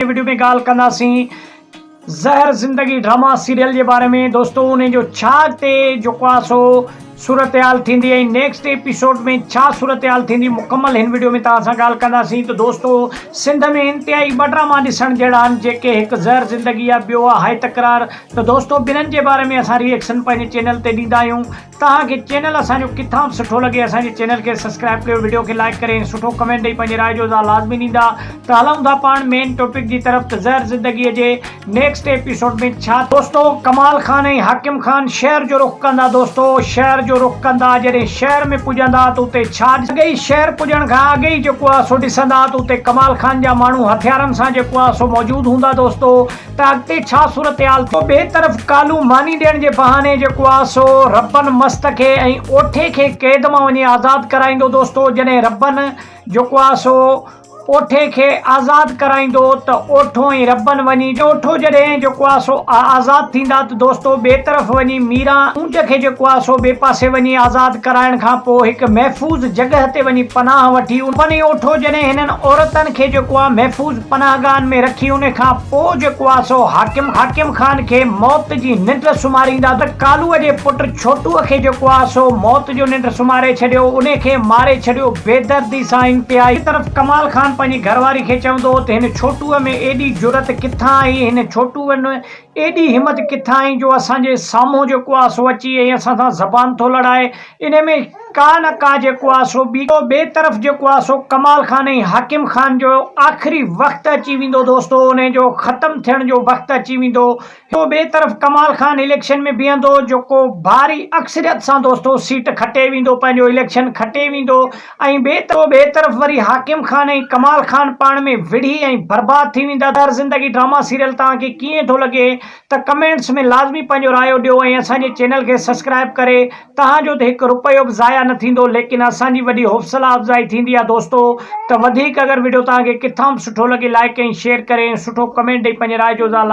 ۾ Video ۾ ڳالهه ڪنداسين Zehar Zindagi drama serial جي باري ۾ دوستو ان جو ڇا اڳتي جيڪو آ سو صورتحال ٿيندي ۽ نيڪسٽ ايپيسوڊ ۾ ڇا صورتحال ٿيندي مڪمل هن وڊيو ۾ توهان سان ڳالهه ڪنداسين ته دوستو سنڌ ۾ انتهائي ٻه ڊراما ڏسڻ جهڙا آهن جيڪي هڪ زهر زندگي آ ٻيو آ هاء تڪرار ته دوستو ٻنهن جي باري ۾ اسان ريئڪشن پنهنجي چينل تي ڏيندا آهيون توهان کي چينل اسان جو ڪٿان به سٺو لڳي اسان جي چينل کي سسڪرائب ڪيو وڊيو کي لائيڪ ڪري ۽ سٺو ڪمينٽ ڏئي پنهنجي راء جو اظهار لازمي ڏيندا ته هلئون ٿا پاڻ مين ٽوپڪ جي طرف ته زهر زندگي جي نيڪسٽ ايپيسوڊ ۾ ڇا دوستو ڪمال خان ۽ حاڪم خان شهر جو رخ ڪندا دوستو شهر جو رخ ڪندا جڏهن شهر ۾ پڄندا ته اتي ڇا اڳئي شهر پڄڻ کان اڳ ئي جيڪو آهي سو ڏسندا ته اتي ڪمال خان جا ماڻهو هٿيارن سان جيڪو آهي سو موجود هوندا دوستو. ته اڳتي ڇا صورتحال ٿيندي. پوء ٻئي طرف ڪالهون ماني ڏيڻ جي بهاني جيڪو آ سو ربن مست کي ۽ اوٺي کي قيد مان وڃي آزاد ڪرائيندو دوستو جڏهن ربن جيڪو آ سو اوٺي کي آزاد ڪرائيندو ته اوٺو ۽ ربن وڃي اوٺو جڏهن جيڪو آ سو آزاد ٿيندا ته دوستو ٻئي طرف وڃي ميران اونٽ کي جيڪو آ سو ٻئي پاسي وڃي آزاد ڪرائڻ کان پوء هڪ محفوظ جڳهه تي وڃي پناهه وٺي ان ربن ۽ اوٺو جڏهن هنن عورتن کي جيڪو آ محفوظ. پناهگاهن ۾ رکي ان کان پوء جيڪو آ سو حاڪم حاڪم خان کي موت جي ننڊ سمهاريندا ته ڪالوء جي پٽ ڇوٽوء کي جيڪو آ سو موت جو ننڊ سمهاري ڇڏيو ان کي ماري ڇڏيو بيدردي سان انتهائي. هڪ طرف ڪمال خان پنهنجي گهر واري کي چوندو هو ته هن ڇوٽوء ۾ ايڏي جرئت ڪٿان آئي هن ڇوٽوء ايڏي همت ڪٿان آئي جو اسان جي سامهون جيڪو آ سو اچي ۽ اسان سان زبان ٿو لڙائي. انهي ۾ ڪا نه ڪا جيڪو آ سو ٻي ڪو ٻي طرف جيڪو آ سو ڪمال خان ۽ حاڪم خان جو آخري وقت اچي ويندو دوستو انهي جو ختم ٿيڻ جو وقت اچي ويندو هڪ ٻي طرف ڪمال خان اليڪشن ۾ بيهندو جيڪو ڀاري اڪثريت سان دوستو سيٽ کٽي ويندو پنهنجو اليڪشن کٽي ويندو ۽ ٻئي طرف وري حاڪم خان ۽ ڪمال خان پاڻ ۾ وڙهي ۽ برباد ٿي ويندا ته زندگي ڊراما سيريل توهان کي ڪيئن ٿو لڳي ته ڪمينٽس ۾ لازمي پنهنجو رايو ڏيو ۽ اسان جي چينل کي سسڪرائب ڪري توهان جو ته هڪ رپيو به ضايع نه ٿيندو ليڪن اسان جي وڏي حوصلا افزائي ٿيندي آهي دوستو ته وڌيڪ اگر وڊيو توهان کي ڪٿان به سٺو لڳي لائڪ ۽ شيئر ڪري ۽ سٺو ڪمينٽ ڏئي پنهنجي راء جو اظهار